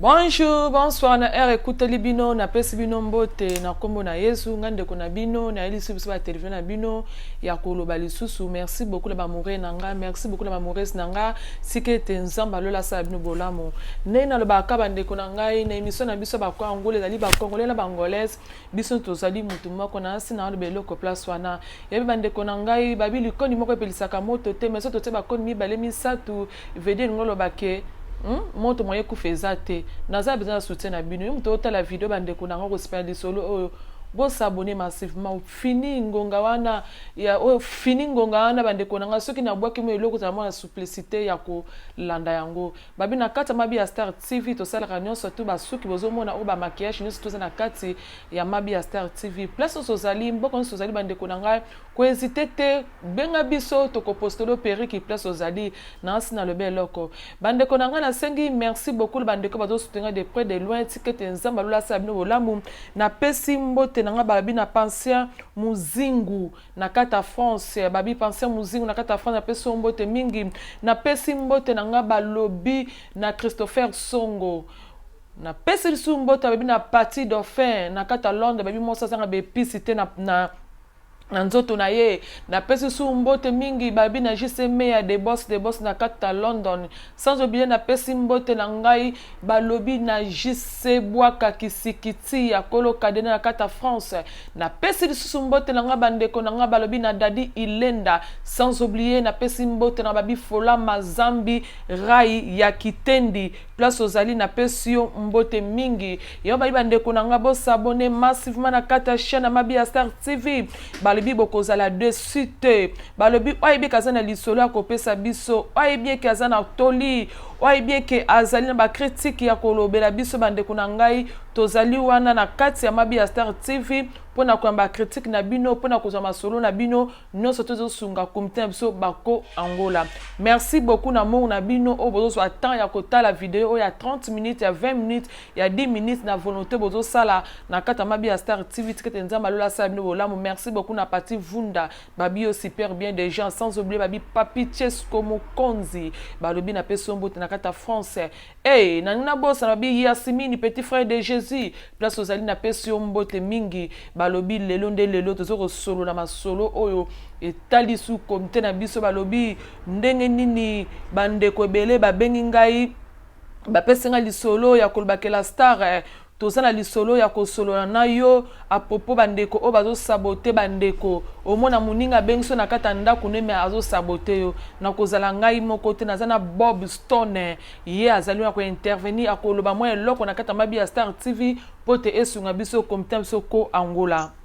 Bonjour, bonsoir na heure ekuteli bino napesi bino mbote na nkombo na Yesu ngai ndeko na bino nayelisi biso ba televizio na bino ya koloba lisusu merci beaucoup na bamoure na ngai merci beaucoup na bamourese na ngai tika ete nzambe alola asala bino bolamu ndenge nalobaka bandeko na ngai na emission na biso bako angola ezali bakongole na bangolese biso tozali motu moko na nsi na oloba eloko place wana yebi bandeko na ngai babi likoni moko epelisaka moto te meso totie bakoni mibale misato Veut dire olingi oloba que Hum, moto moyen ekufa eza te naza besoin ya soutien na bino yo moto otala video bandeko na yango kosepela lisolo oyo bosabone massivement fini ngonga wana ya oyo fini ngonga wana bandeko na ngai soki nabwaki mo eloko ozala mwana suplicité ya kolanda yango babi na kati ya mabi ya star tv tosalaka nyonso tu basuki bozomona oyo bamaquillage nyonso toza na kati ya mabi ya star tv place nyonso ozali mboka nyonso ozali bandeko na ngai kohezite te Benga biso toko postelo periki place ozali naasi na lobi eloko ba ndeko na ngai na sengi merci beaucoup na ba ndeko bazo soutenir ngai de près de loin tika ete nzambe ya lola asala bino bolamu na pesi mbote na ngai ba babi na pension muzingu na kati ya France ba bi pension muzingu na kati ya France na pesi yo mbote mingi na pesi mbote na ngai ba lobi na Christopher Songo na pesi lisusu mbote ba babi na Paty Dauphin na kati ya Londres ba bi mwasi azanga ba epices te na, na na nzoto na ye. Napesi su mbote mingi babi na JC Meya de Boss de Boss na kati ta London. Sans oublie napesi mbote na ngai balobi na JC Bwaka Kisikiti ya kolo Kadena na kati ta France. Napesi lisusu mbote na ngai ba ndeko na ngai balobi na Daddy Ilenda. Sans oublie napesi mbote na babi Fola Mazambi Ray ya Kitendi. Place ozali na pesi yo mbote mingi yo bayi ba ndeko na nga bo s'abonner massivement na kati ya chaine ya mabi ya star TV balobi bokozala deçu te balobi oye bika aza na lisolo ya kopesa biso oye bieke aza na toli oye bieke azali na ba critique ya kolobela biso ba ndeko na ngai tozali wana na kati ya mabi ya star TV pona koyamba critique na bino pona kozwa masolo na bino nionso tozo sunga comite na biso bako angola merci beaucoup na mor na bino oyo bozo zwa temps ya kotala video oyo ya 30 minutes ya 20 minutes ya 10 minutes na volonté bozo sala na kati ya mabi ya star tv tikete nzambe alola asala bino bolamu merci beaucoup na pati vunda babi yo super bien des gens sans oublier babi papi chesco mokonzi balobi na pe sombote na kati ya france Hey, nalingi nabosana bi Yasimini petit frère de Jesus place ozali napesi yo mbote mingi balobi lelo nde lelo tozo kosolola masolo oyo etali su komite na biso balobi ndenge nini bandeko ebele babengi ngai bapesi ngai lisolo ya kolobakela star eh, Toza na lisolo ya kosolola na yo a propos ba ndeko oyo bazo saboter ba ndeko. Omona muninga abengisi yo na kati ya ndaku ne mais azo saboter yo. Nakozala ngai moko te, naza na Bob Stone ye azali wana ko intervenir akoloba mwa eloko na kati ya mabi ya Star TV mpo te esunga biso comite na biso ko Angola.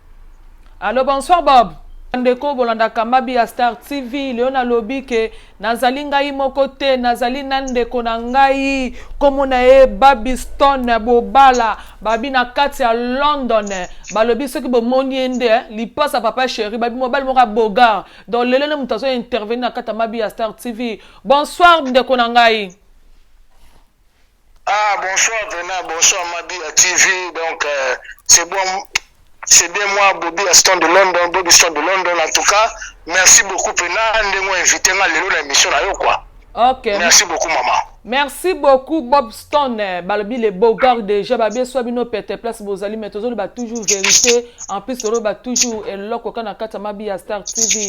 Allo bonsoir Bob ndeko bolandaka mabi ya Star TV leo nalobi ke nazali ngai moko te nazali na ndeko na ngai nkombo na ye Babiston Bobala babi na kati ya London balobi soki bomoni ye nde eh, lipasa papa chéri babi mobali moko ya bogar donc lelo nde moto azo intervenir na kati ya mabi ya Star TV bonsoir ndeko na ngai Ah bonsoir Vena, bonsoir Mabia TV. Donc euh, c'est bon, c'est bien moi Bobby Aston de London, Bobby Aston de London. En tout cas, merci beaucoup Pena, ndenge invité nga lelo na émission na yo quoi. Ok. Merci beaucoup maman. Merci beaucoup Bob Stone, balobi le beau gars déjà babeswa bino pète place bozali mais tozoloba toujours vérité. En plus oloba toujours eloko kaka na kati ya mabi ya Star TV.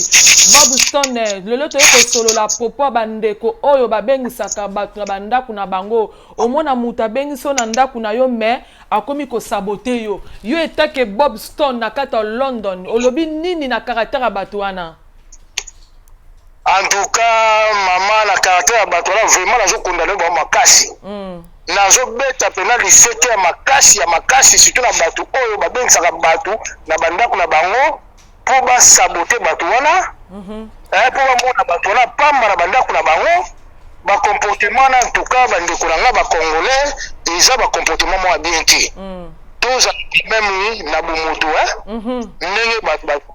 Bob Stone, lelo toye kosolola propos ya bandeko oyo babengisaka bato na bandako na bango. Omona moto abengisi yo na ndako na yo mais akomi kosabote yo. Yo etake Bob Stone na kati ya London, olobi nini na caractère ya bato wana? en tout cas mama na caractère ya bato wana vraiment nazo condamne bango makasi mm. nazo beta mpena lisete ya makasi ya makasi surtout na bato oyo babengisaka bato na bandako na bango mpo basabote bato wana mm -hmm. eh, mpo bamona bato wana pamba na bandako na bango bacomportement wana en tout cas bandeko na ngai bacongolais eza bacomportement mwa bien te mm. tozala meme na bomoto eh? mm -hmm. ndenge bato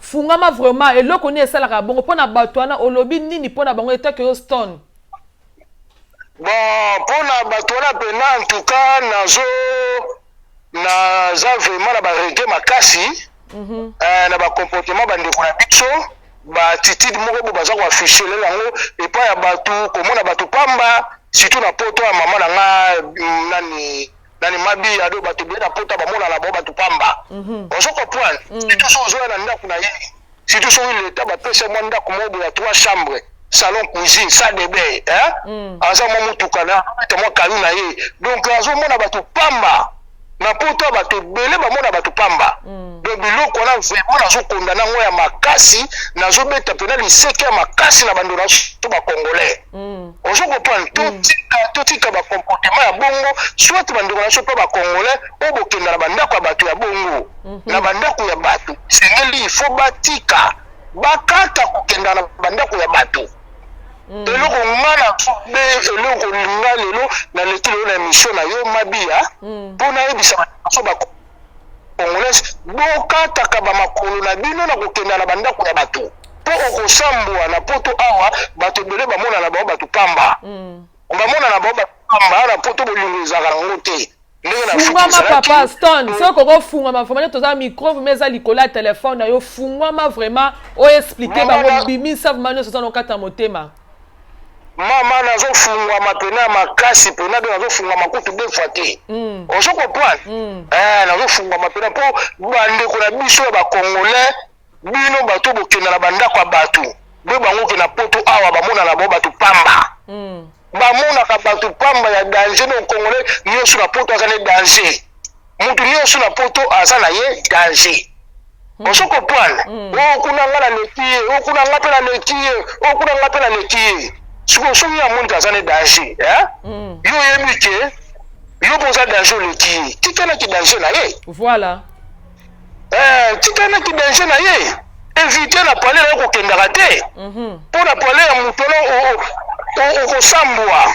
Fungama vraiment eloko nini esalaka bongo pona batu wana olobi nini pona bango etat que yo stone bon pona batu wana pena en tout cas nazo naza vraiment na ba regret makasi mm -hmm. eh, na ba comportement ba ndeko na biso ba attitude moko bo baza ko afficher lelo yango epai ya batu komona batu pamba surtout na poto ya mama na nga mm, nani nani mabi ya do bato ebele na pota bamona na bango bato pamba mhm. ozo comprendre mm. surtout soki ozoya na ndako na ye surtout soki leta bapesa mwa ndako moko boya trois chambre salon cuisine sa debe mm. aza mwa motuka na ta mwa kalu na ye donc azomona bato pamba na poto bato ebele bamona bato pamba mm. donc biloko wana vraimen nazokonda nango ya makasi nazobeta mpena liseke ya makasi na bando na to bacongolais Mm. ozo comprendre totika mm. totika bacomportement ya bongo soit bandeko na biso mpe bacongolais oyo bokenda na bandako ya bato ya bongo mhm. na bandako ya bato esengeli ifo batika bakata kokenda na bandako ya bato mm. eloko nga na be eloko nga lelo naleki lelo na émission na yo mabia mpo mm. nayebisa bato baso Congolais bokataka ba makolo na bino na kokenda na bandako ya bato mpo okosambwa na poto awa bato ebele bamona na bango bato pamba mm. bamona na bango bato pamba na poto bolingo ezalaka na yango te fungwama papa stone soki okoki ofungwama vraiment toza microbe ma eza likolo ya telefone na yo fungwama vraiment oexplike bango bimisa vraimen nyonso oza na okata motema mama nazo fungwama pena makasi pena de nazo fungwama kutu deux fois te mm. ozo comprendre mm. eh, nazo fungwama pena mpo bandeko na biso ya bacongolais bino bato bokenda na bandako ya bato be bango ke na poto awa bamona na bango bato pamba mm. bamonaka bato pamba ya danger no congolais nyonso na poto aza ne danger mutu nionso na poto aza na ye danger hmm. ozo comprendre hmm. o oh, kuna nga na leki ye o oh, kuna nga mpe na leki ye o oh, kuna nga mpe na leki ye sikoyo soki amoni aza na danger hmm. yo oyebi ke yo mpe oza danger oleki ye tikanaki danger na ye voilà eh, tikanaki danger na ye evite na pale na ye kokendaka te mpo mhm. na pale ya moto okosambwa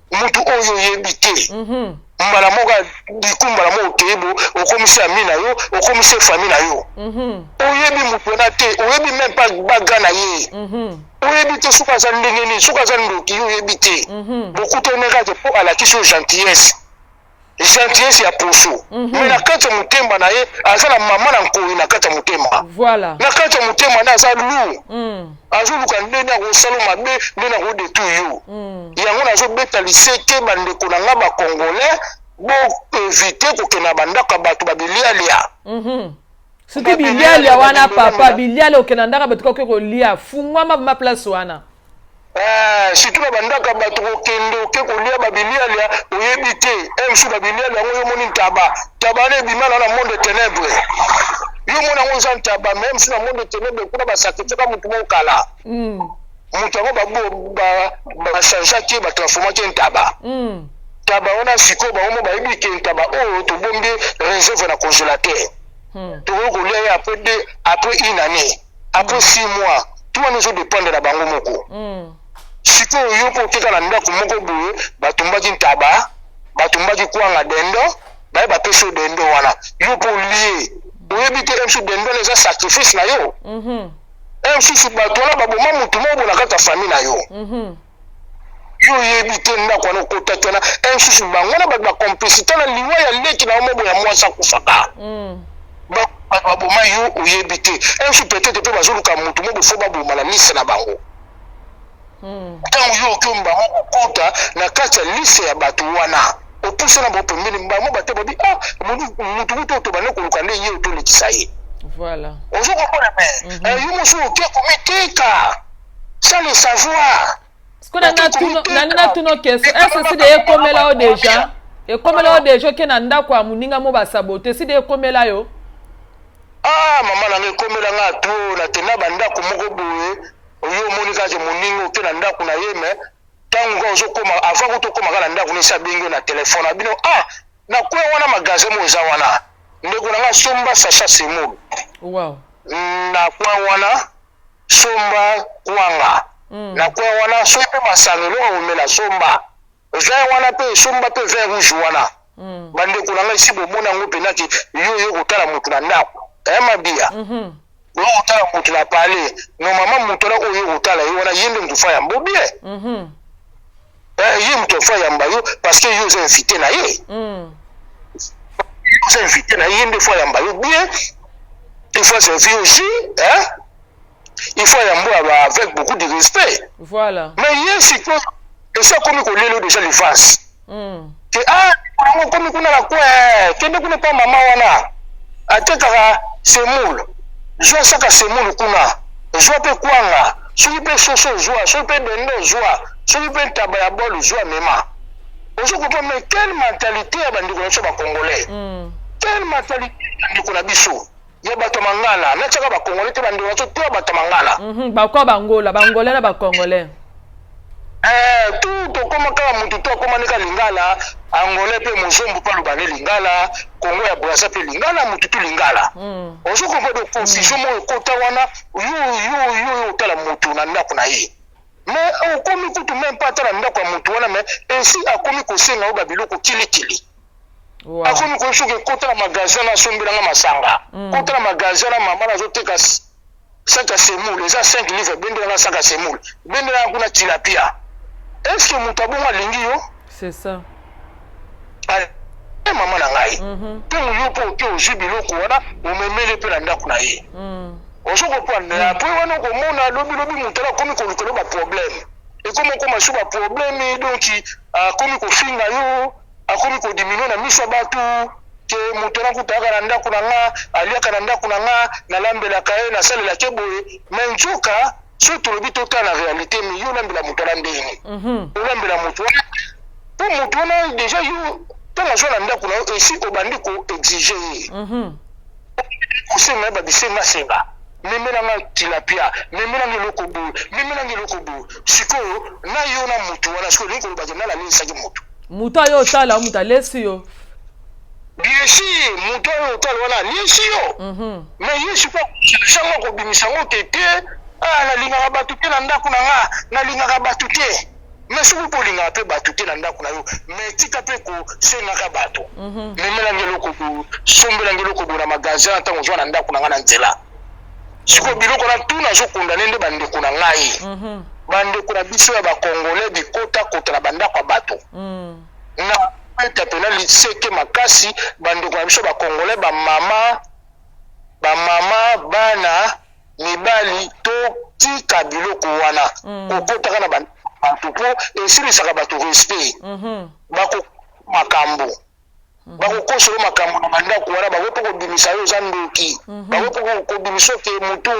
mutu oyo oyebi te mhm. mbala moko biku mbala moko okei bo okomisi ami na yo okomisi efami na yo mhm. oyebi moto wana te oyebi meme pa baga na ye mhm. oyebi te soki aza ndenge nini soki aza ndoki yo oyebi te bokutanekate mpo alakisi yo gentillesse gentillesse ya poso mm -hmm. mais na kati ya motema na ye aza na mama na nkoi na kati ya motema voilà. na kati ya motema na aza lour mm. azoluka ndeni akosala mabe ndeni akodetu yo mm. yango nazobeta liseke bandeko na ngai bacongolais boevite kokenda na bandako ya bato babilialia mm -hmm. soki bilialia wana papa bilialia okenda ndako bato kakoki kolia fungwama ma place wana Eh, surtout na bandaka bato kokende oke kolia babilialia oyebi te msu babilialia yango yo omoni ntaba ntaba na ebima na na monde tenebre yo omoni yango eza ntaba me msu na monde tenebre kuna basakitisaka motu moko kala mm. moto yango bachangeaki ye batransformaki ye ntaba mm. ntaba wana sikoyo bango mo bayebi ke ntaba oyo oh, tobombi reserve na congélateur hmm. tokoki kolia ye après une année après six mois tout wana ezo dependre na bango moko sikoyo yo mpo oteka na ndako moko boye batumbaki ntaba batumbaki kwanga dendo baye bapesi yo dendo wana yo mpo olie oyebi te msu dendo wana eza sacrifice na yo msusu bato wana baboma motu moko bona kaka famille na yo mm -hmm. yo oyebi te ndako wana okotaki wana ensusu bango na bato bacomplicité na liwa ya leki na yo mobo ya mwasi akufaka mm. bato baboma yo oyebi te ensusu petete mpe bazoluka motu mobo fo baboma na lise na bango mm. ntango yo okomi bango kokota na kati ya lise ya bato wana opuse na bango pembeni bango bate babi ah motu motu oyo tobandi koluka nde ye otolekisa ye ozokomona me yo mosusu oke komiteka sans le savoir sikoyo nangi natuna question ese sida ekomela yo deja ekomela yo deja oke na ndako ya moninga mo basabote sida ekomela yo ah mama nanga ekomela nga to na tena bandako moko boye oyo omoni kaka ke moninga oke na ndako na ye me ntango kaka ozokoma avant kuta okoma kaka na ndako nesi abengi yo na telefone na bino ah nakweya wana magasin mo eza wana ndeko na nga somba sacha semolo wow. nakwa wana somba kwanga mm. na coin wana soki mpe masano eloko komela somba vin wana mpe somba mpe vin rouge wana mm. bandeko na ngai si bomoni yango mpenza ke yo yo kotala motu na ndako aya eh, mabiya mm -hmm. yo kotala motu na pale nomama motu wana oyo yo kotala ye wana ye nde motu fa yango bien mm -hmm. eh, ye moto afa yamba yo parce que yo oza invité na ye mm. oza invité na ye ye nde fo ayamba yo bien il faut aservi au jus hein? il faut ayamba oyo avec beaucoup de respect voilà mais ye sikoyo esi akomi kolelo déjà livance mm. te ah yango okomi kuna na kwe eh, kende kuna mpa mama wana atekaka semoule zwa saka semoule kuna zwa mpe kwanga soki mpe soso zwa soki mpe dendo zwa soki mpe ntaba ya bol zwa mema ozo comprendre mais quelle mentalité ya bandeko na biso bacongolais mm. quelle mentalité ya bandeko na biso ya bato ya mangana natiaka bakongole te bandeko na biso to ya bato ya mangana mhm, bako ya bangola bangole na bakongole eh, tu tokóma kaka motu to akóma nika lingala angolais mpe mozombo mpe aloba ne lingala kongo ya brasa mpe lingala motu tu lingala mm. ozo comprendre confusion moko ekota wana yo yo yo yo otala motu na ndako na ye me okomi kutu meme mpe ata na ndako ya motu wana me esi akomi kosenga yo babiloko kilikili Wow. akomi koyebi soki ekota na magasin na asombela nga masanga mm. kota na magasin na mama nazoteka saka semoule eza 5 livre bendela nga saka semoule bendela nga kuna tilapia est ce que moto abongo alingi yo c'est ça e mama na ngai ntango mhm. yo mpo oke ozwi biloko wana omemeli mpe na ndako na ye mm. ozo kopanda mm. apres wana okomona lobilobi moto ala akomi kolukela baproblème ekomi okoma so baproblème donki akomi kofinga yo akomi ko diminuer na miso ya batu ke moto wana kutu ayaka na ndako na nga aliaka na ndako na nga nalambelaka ye nasalelaka ye boye me nzoka soki tolobi totala na realite me yo olambela moto wana ndenge nini mhm. olambela moto wana mpo moto wana deja yo ntango azwa na ndako na yo esi obandi koexige ye mhm. osenga ye babisenga senga memela nga tilapia memela nga eloko boye memela nga eloko boye sikoyo na yo na mutu wana sikoyo olingi koloba ke nani alalisaki mutu mutu ayo otala mutu alesi yo bien sûr mutu ayo otala wana alesi yo mhm. mais ye sikoyo sango akobimisa ngo te te ah, nalingaka bato te na ndako na nga nalingaka bato te Mais soki kolingaka pe batu te na ndaku na yo mais tika pe ko sengaka batu mhm. memela nge eloko bo sombela nge eloko bo na magasin na tango zwa na ndaku na nga na nzela sikoyo biloko na tout nazo condamne nde bandeko na ngai mhm. bandeko na biso ya bacongolais bikotakota na bandako ya bato mm. na eta mpena liseke makasi bandeko na biso bacongolais bamama bamama bana mibali totika biloko wana mm. kokotaka na bato mpo esilisaka bato respect mm -hmm. bako makambo mm -hmm. bakokosolo makambo na bandako wana bakoki mpo kobimisa yo oza ndoki mm -hmm. bakoki mpo kobimisa oke motu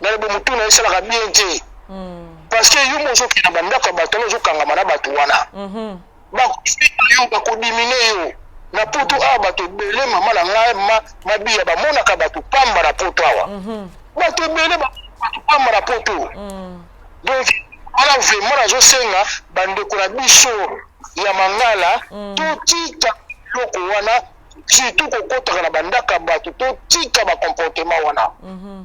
nalebo motu na esalaka bien te mm. parce que yo mo ozokende na bandako ya bato wana ozokangama na bato wana mm -hmm. Bakofinga yo, bakodimine yo. Na poto awa bato ebele, mama na ngai ma, Mabiya, bamonaka bato pamba na poto awa. Mm -hmm. Bato ebele bato pamba na poto. Mm. Donc wana vraiment nazosenga bandeko na biso ya mangala mm. totika biloko wana surtout kokotaka na bandaka bato totika bacomportement wana mm -hmm.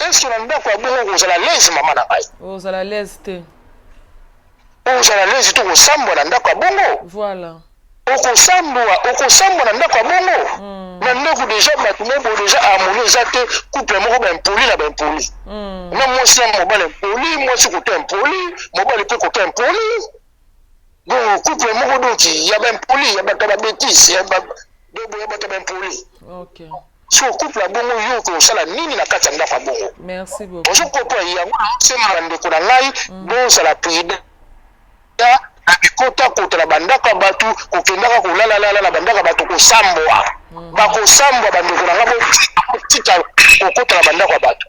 Est-ce que na ndako ya bongo kozala à l'aise mama na ngai? Ozala à l'aise te. Ozala à l'aise te kosambwa na ndako ya bongo? Voilà. Okosambwa, okosambwa na ndako ya bongo? Mm. Na ndako deja bato moko deja harmonie eza te, couple moko ba impoli na ba impoli. Mm. Na mwasi na mobali impoli, mwasi koto impoli, mobali pe koto impoli. donc couple moko donc ya ba impoli ya bato ya ba betise ya bato ya ba impoli okay. so couple ya bongo yo okoki kosala nini na kati ya ndako ya bongo ozo kopona yango naosenga bandeko na ngai mm. bozala prida na bikota kota na bandako ya bato kokendaka kolalalala na bandako ya bato kosambwa mm. bakosambwa bandeko na ngai botika kokota na bandako ya bato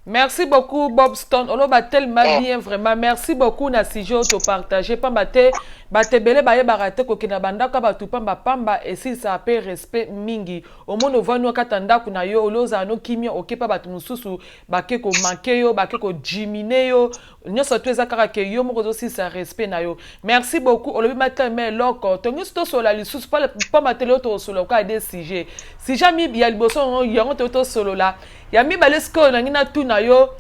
Merci beaucoup Bobstone oloba tellement eh. bien vraiment merci beaucoup na sujet oyo topartage pamba te bato ebele bayebaka te kokenda bandako ya bato pamba pamba esilisaka mpe respect mingi omoni ovandi wakata ndako na yo oli ozala no kimia okepa bato mosusu bake komanke yo bake kodimine yo Nioso tout eza kaka que yo moko ozo silisa respect na yo. Merci beaucoup olobi ma tell ma eloko tongi to solola lisusu pa pa ma tell yo to solola ka des sujets. Sujet mi ya liboso yango yango to to solola. Ya mibale sikoyo nangi na tu na yo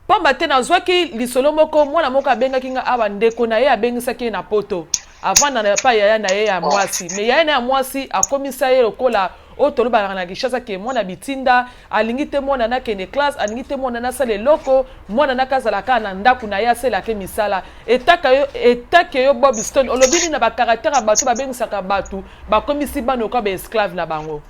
pamba te nazwaki lisolo moko mwana moko abengaki nga awa ndeko na ye abengisaki ye na poto avanda na epai yaya na ye ya mwasi me yaya na ye ya mwasi akomisa ye lokola oyo tolobaka na kinshasa ke mwana bitinda alingi te mwana nakende classe alingi te mwana nasala eloko mwana naka azala kaka na ndako na ye aselake misala etaka yo etake yo bob stone olobi nini na bacaractere ya bato babengisaka bato bakomisi bana okoa baesclave na bango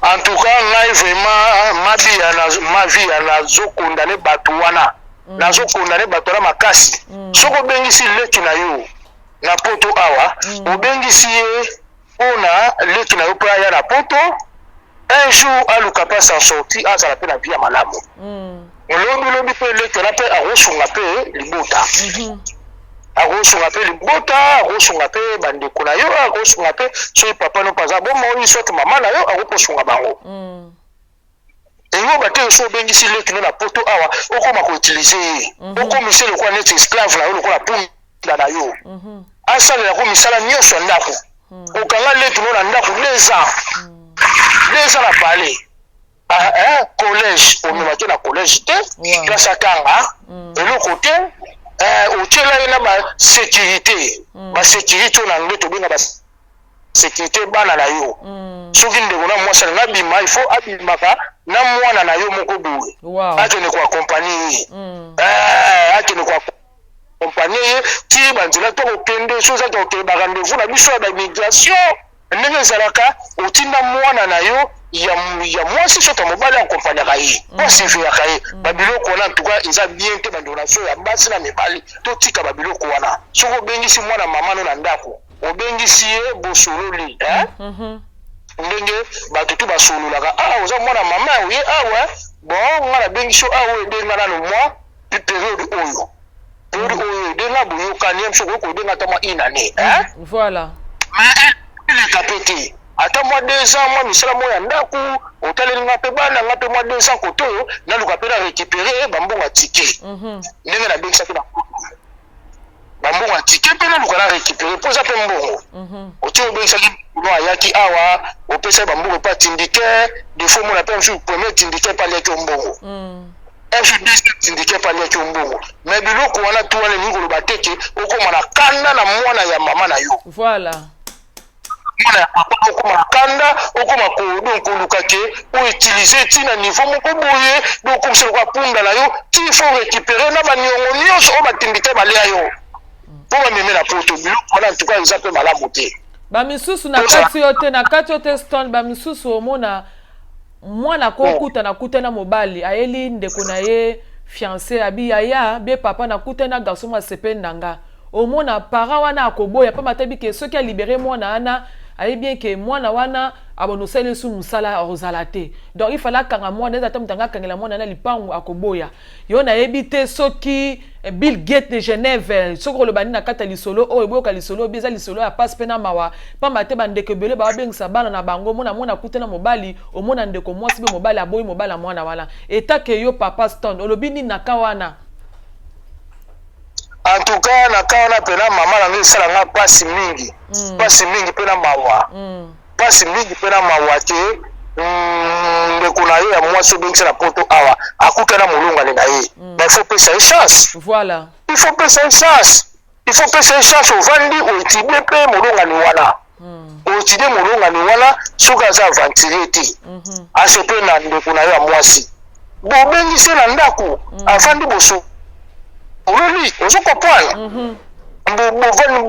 en tout cas ngai vraiment mabi ya mavi ya nazokondane bato wana mm. nazokondane bato wana makasi mm. soki obengisi leki na yo na poto awa mm. obengisi ye mpona leki na yo mpo aya na poto un jour aluka mpe sa sorti azala mpe na vie ya malamu mm. Olobi lobi pe eleki wana pe akosunga pe libota. Mhm. Akosunga pe libota, akosunga pe bandeko na yo, akosunga pe soki papa no paza bo moi soit mama na yo akoposunga bango. Mm. Eyo ba te so bengisi leki no na poto awa okoma ko utiliser ye. Mm -hmm. Okomisa lokola neti esclave na yo lokola punda na yo. Mm -hmm. Asalela ko misala nyonso ya ndako. Mm. Okanga leki no na ndako 2 ans. Mm. 2 ans na palais. Ah, eh, collège omemaki na collège te Ouais. place akanga Mm. eloko te eh, otyela ye na basécurité Mm. basécurité oyo na anglais tobenga basécurité bana na yo Mm. soki ndeko na mwasi alingi abima il faut abimaka na mwana na yo moko boye Wow. akende koakompagne ye Mm. Eh, akende koakompagne ye ti banzela to kokende soki ozaki kokende barendez-vous na biso ya bamigration ndenge ezalaka otinda mwana na yo ya, ya mwasi soki mobali akompanyaka ye mm. po asiveaka ye mm. babiloko wana ntuka eza bien te bandonation ya basi na mibali totika babiloko wana soki obengisi mwana mama no na ndako obengisi ye bosololi eh? mm -hmm. ndenge bato tu basololaka ah oza mwana mama oye awa ah, bon nga nabengisi yo awa ah, ebenga nano mwa periode oyo periode mm. oyo de na boyokani biso okoki kobenga ata mwa une année hein mm. voilà eleka mpe te ata mwa deux ans mwa misala moko ya ndako otaleli nga mpe bana nga mpe mwa deux ans koto oyo naluka mpe na récupéré bambongo ya tike mhm. ndenge nabengisaki na ba mbongo ya ticket mpe naluka na récupérer mpo eza mpe mbongo mhm. otie obengisaki no ayaki awa opesaki bambongo mpe atindike defo omona mpe mosusu premier tindike mpe aliaki yo mbongo fdc mm. tindike mpe aliaki yo mbongo mais biloko wana tu wana elingi koloba te ke okóma na kanda na mwana ya mama na yo voilà mwana ya papa okoma mokanda okoma ko donc koluka ke o utiliser ti na niveau moko boye donc okomisa lokola punda na yo ti faut récupérer na baniongo nyonso oyo batimbite balya yo mpo bameme na poto biloko wana en tout cas eza mpe malamu te bamisusu na kati yo te na kati yo te stone bamisusu omona Mwana ako Bon. kuta na kuta na mobali ayeli ndeko na ye fiance abi yaya bye papa na kuta na garçon mwa sepeli na nga omona parent wana ako boya pamba te bike soki a libere mwana wana ayebi bien ke mwana wana abo no sali esu musala ozala te donc il fallait akanga mwana eza ata mutu anga kangela mwana na lipangu ako boya Yo nayebi te soki eh, Bill Gates ne Genève eh, soki koloba nini na kati ya lisolo oyo boyoka lisolo oyo eza lisolo ya pasi mpe na mawa mpamba te bandeko ebele babengisa bana na bango mona mona akute na mobali omona ndeko mwasi mpe mobali aboyi mobali ya mwana wana etake yo papa stone olobi nini na ka wana en tout cas na ka wana mpe na mama na ngai esala ngai mpasi mingi mpasi mm. mingi mpe na mawa mm. pasi mingi pe na mawa ke mm, ndeko na yo ya mwasi obengisa na poto awa akuta na molongani na ye mm. mais il faut pesa ye chance voilà il faut pesa ye chance il faut pesa ye chance ovandi oetidie pe molongani wana mm. oetidie molongani wana soki aza aventurier te mm -hmm. asepe na ndeko na yo ya mwasi bobengi se na ndako mm. avandi boso ololi ozo comprendre mhm.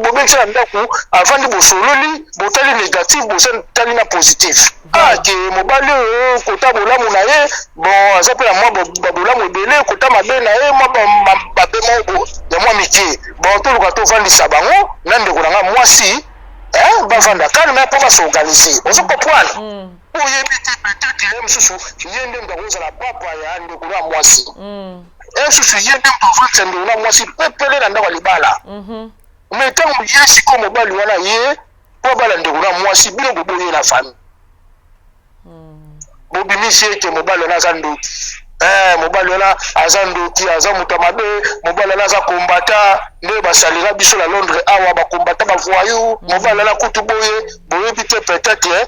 bobengi se na ndako avandi bosololi botali négatif botali na positif ake ah, mobali oyo kota bolamu na ye bon aza mpe na mwa babolamu ebele kota mabe na ye mwa mabe moko ya mwa mike bon toluka tofandisa bango na ndeko na ngai mwasi bavanda kalme mpo basorganize ozo comprendre mm. Oyebi te peut-etre ye mususu ye nde mutu akozala papa ya ndeko na mwasi. Mm. Ye mususu ye nde mutu avandisa ndeko na mwasi pepele na ndako ya libala. Mm -hmm. Mais ntango ye sikoyo mobali wana ye mpo abala ndeko na mwasi bino boboye na famille. Mm. Bobimisi ete mobali wana aza ndoki. Eh, mobali wana aza ndoki aza moto ya mabe mobali wana aza kombata nde basalela biso na londres awa bakombata bavoyou mobali wana kutu boye boyebi te peut-être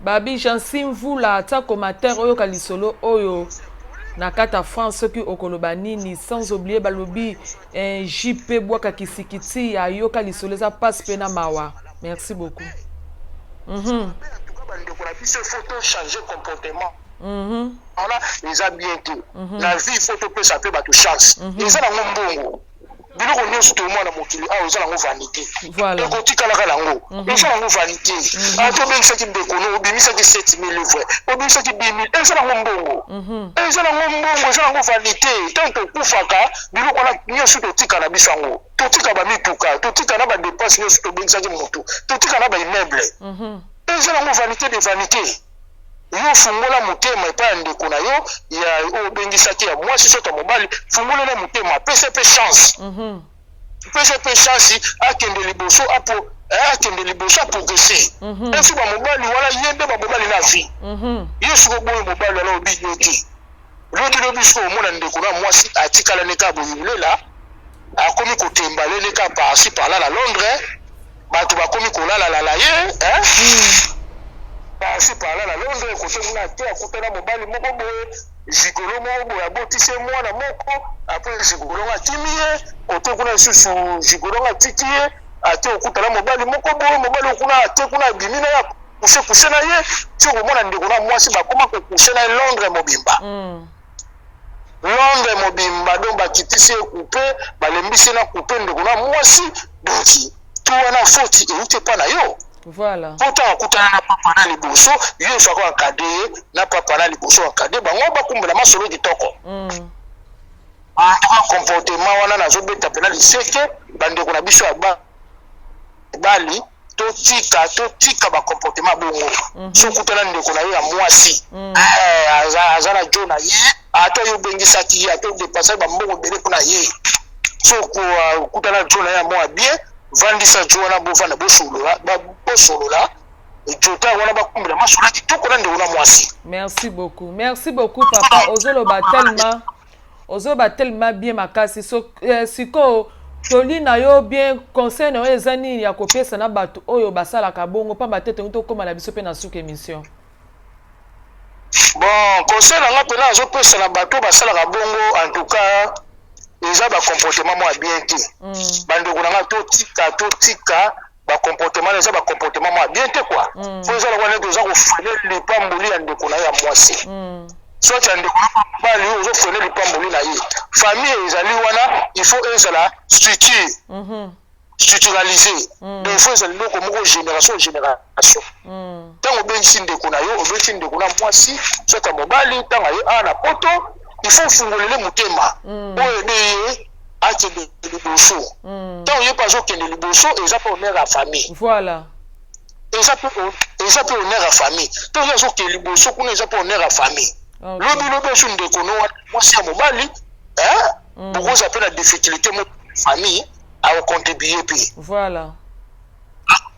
Babi Jeancy Mvula aza comateur oyoka lisolo oyo na kata France soki okoloba nini sans oublier balobi eh, JP bwaka kisikiti ayoka lisolo eza passe pe na mawa merci beaucoup mm -hmm. bandeko na biso faut to changer comportement wana eza bien te na vie faut topesa mpe bato chance eza nango mbongo biloko nyonso toyomona na mokili awa eza nango vanité ekotikalaka nango mhm. eza nango vanité mhm. ata ah, obengisaki ndeko no obimisaki 7000 livre obimisaki 2000 eza nango mbongo mhm. eza nango mbongo eza nango vanité ntango tokufaka biloko wana nyonso totika na biso yango totika bamituka totika na badepense nyonso tobengisaki motu totika na baimmeuble eza nango vanité de vanité Yo fungola motema epai ya ndeko na yo ya oyo obengisaki ya mwasi soki ya mobali, fungola na motema, apesa pe chance. Mm -hmm. Pesa pe chance akende liboso apo eh, akende liboso progresser. Mm -hmm. Osuba mobali wana ye nde ba mobali na vie. Mm -hmm. Yesu ko boyo mobali wana obi yo te. Lobi lobi siko omona ndeko na mwasi atikala ne ka boyulela akomi kotemba lele ka par ci par là na Londres bato bakomi kolala lala ye hein? Hmm. par ci par là na Londres kote muna ake akutana mobali moko boye zigolo moko boye abotisi ye mwana moko apres zigolo nga akimi ye kote kuna lisusu zigolo nga atiki ye ake okutana mobali moko boye mobali okuna ake kuna abimi na ye kuse kuse na ye ti okomona ndeko na mwasi bakoma kokuse na ye londre mobimba mm. londre mobimba donc bakitisi ye kupe balembisi na kupe ndeko na mwasi donc to wana foti euti epa na yo voilà mpo ntango akutana na papa na liboso yo efako akade ye na papa na liboso akade bango bakumbela masolo kitoko mm. antaka comportement wana nazobeta mpena liseke bandeko na biso ya bali totika totika ba comportement bongo mhm. so okutana ndeko na yo ya mwasi mhm. eh, aza na jo na ye ata yo obengisaki ye ata odepasaki bambongo ebele mpo na ye so okutana jo na ye ya mwa bien vandisa jo wana bovanda bosolola bosolola jota wana bakumbela masolo ya kitoko na ndeko na mwasi merci beaucoup merci beaucoup papa ozoloba tellement Ozo ba telema bien makasi so, eh, sikoyo toli na yo bien conseil na yo eza nini ya kopesa na bato oyo basalaka bongo pamba te tongi tokoma na biso mpe na suka emission bon conseil na nga mpena azopesa na bato basalaka bongo en tout cas eza bacomportement mwa bien te mm. bandeko na nga totika totika ba comportement na eza ba comportement ma bien te quoi mm. faut eza lokola neti oza kofrene lipamboli ya ndeko na ye ya mwasi mm. soit ya ndeko na mobali oyo ozo frene lipamboli na ye famille ezali wana il faut ezala structure mm -hmm. structuralise mm. donc il faut ezala eloko moko génération génération ntango mm. obengisi ndeko na yo obengisi ndeko na mwasi soit ya mobali ntango aye awa na poto il faut ofungolele motema mm. oyo ebe ye akende liboso ntango ye mpe azokende liboso eza mpe honneur ya famille voilà eza mpe eza mpe honneur ya famille ntango ye azokende liboso kuna eza mpe honneur ya famille lobi lobi esu ndeko no wana mwasi ya mobali mm. bokozala mpe na difficulté mo famille akocontribue mpe voilà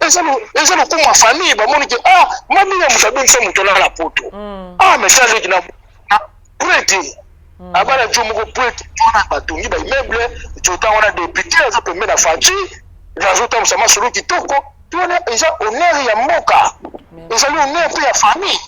eza eza lokumu ya famille bamoni ke ah mami ya moto abengisa moto na la poto mm. ah mais ça leki na ah, prete mm. abala jo moko prete tona batongi baimmeuble jota wana depute aza pembe na faci azotambusa masolo kitoko tona eza honneur ya mboka ezali honneur mpe ya famille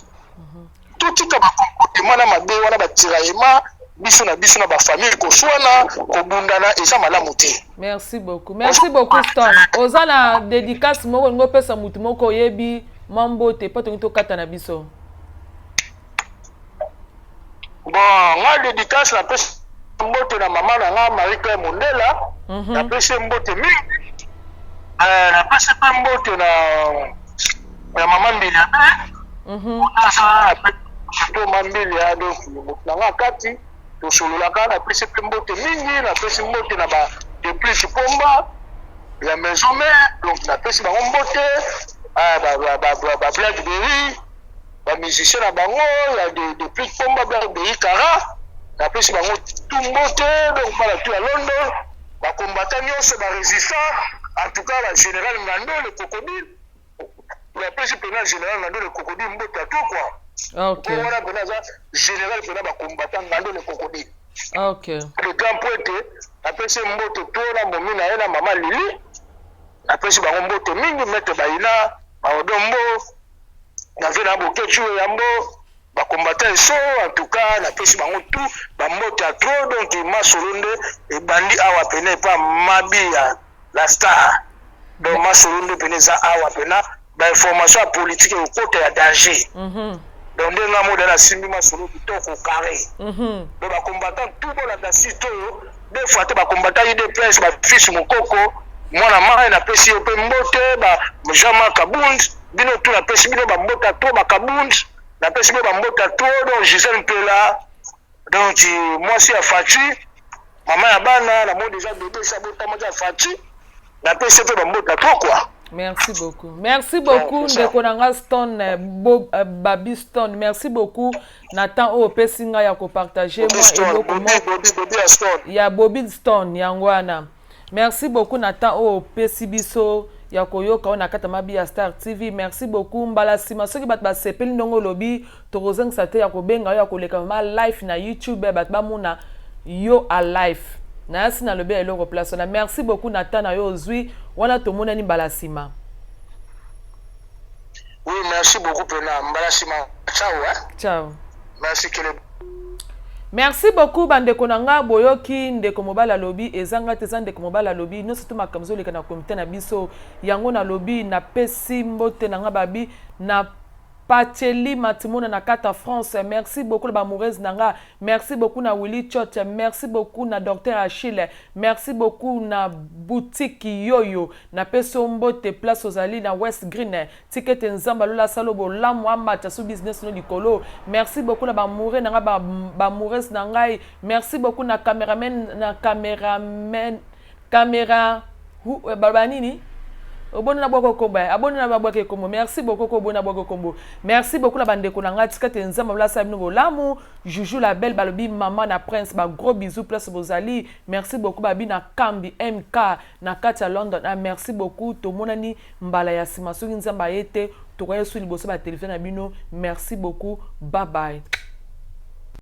totika ba comportement na mabe wana ba tiraillement biso na biso na ba famille koswana kobundana eza malamu te merci beaucoup merci beaucoup stan oza na dédicace moko olingi opesa motu moko oyebi mwa mbote mpo tolingi tokata na biso bon nga dédicace napesi mbote na mama na nga marie claire mondela mhm. napesi mbote mingi eh, napesi mpe mbote na ya mama mbilia be mhm. otasala pe surtout mama mbilia donc moto na nga kati tosololaka napesi mpe mbote mingi napesi mbote na ba depuis kipomba ya maison mère donc napesi bango mbote ah, bablackberry bamusicien na bango ya depuis kipomba blackberry kara napesi bango tu mbote donc bana tu ya london bakombata nyonso barésistant en tout cas bagénéral ngando le crocodile napesi mpena general ngando le kokodi mbote ya to kwa okay. wana mpena aza general mpena bacombatant ngando le kokodi okay. le grand mpo ete napesi mbote to na momi na ye na mama lili napesi bango mbote mingi mete bayina baodombo na ve na bokeci oyambo Ba combattants esso en tout cas na pesi bango tout ba mbote ya trop donc masolo nde ebandi awa pene epa mabia la star donc masolo nde pene eza awa pena ba information ya politique ekokota ya danger mm -hmm. donc nde nga moda nasimbi masolo kitoko carré mm -hmm. donc ba combattants tout bolanda site oyo de fois te ba combattants udps ba fils mokoko mwana mai napesi yo mpe mbote ba jean marc abund bino tu napesi bino bambota to bakabunzi na pesi pe ba mbota to donc Gisèle Mpela donc mwasi ya Fatshi mama ya bana na moni deja bebe sa botama ya Fatshi na pesi pe ba mbota to quoi Merci beaucoup. Merci beaucoup ndeko na nga Stone euh, Bob euh, Babi Stone. Merci beaucoup na temps oyo opesi nga ya ko partager moi eloko moko ya Bobby Stone yango wana. Merci beaucoup na temps oyo opesi biso ya koyoka oyo na kati ya mabi ya Star TV. Merci beaucoup. Mbala nsima soki bato basepeli ndenge olobi, tokozongisa te ya kobenga yo ya koleka mama life na YouTube bato bamona yo a life. Nayasi nalobi ya eloko place wana. Merci beaucoup na temps na yo ozwi wana tomonani mbala nsima. Oui, merci beaucoup pena. Mbala sima. Ciao hein. Ciao. Merci que le merci beaucoup bandeko na nga boyoki ndeko mobali alobi ezanga te eza ndeko mobali alobi nyonso to makambo ezoleka na komite na biso yango nalobi napesi mbote na nga babi na Pacheli Matimona na Kata France. Merci beaucoup la bamoureuse nanga. Merci beaucoup na Willy Chot. Merci beaucoup na Docteur Achille. Merci beaucoup na boutique Yoyo. Na pesi yo mbote place ozali na west green tika ete nzambe ya lola asala yo bolamu amata su business no likolo merci beaucoup na ba amoure na nga ba ba amoures na ngai merci beaucoup na cameraman na cameraman camera hu- eh, baloba nini oboni na bwako kombo eh, aboni na bwake kombo merci beaucoup ko oboni na bwako kombo merci beaucoup na bandeko na ngai tika te nzambe lola asala bino bolamu juju la belle balobi mama na prince ba gros bisous place bozali merci beaucoup babi na kambi mk na kati ya london ah, merci beaucoup tomonani mbala ya nsima soki nzambe aye te tokoya esu liboso ba televizio na bino merci beaucoup babaye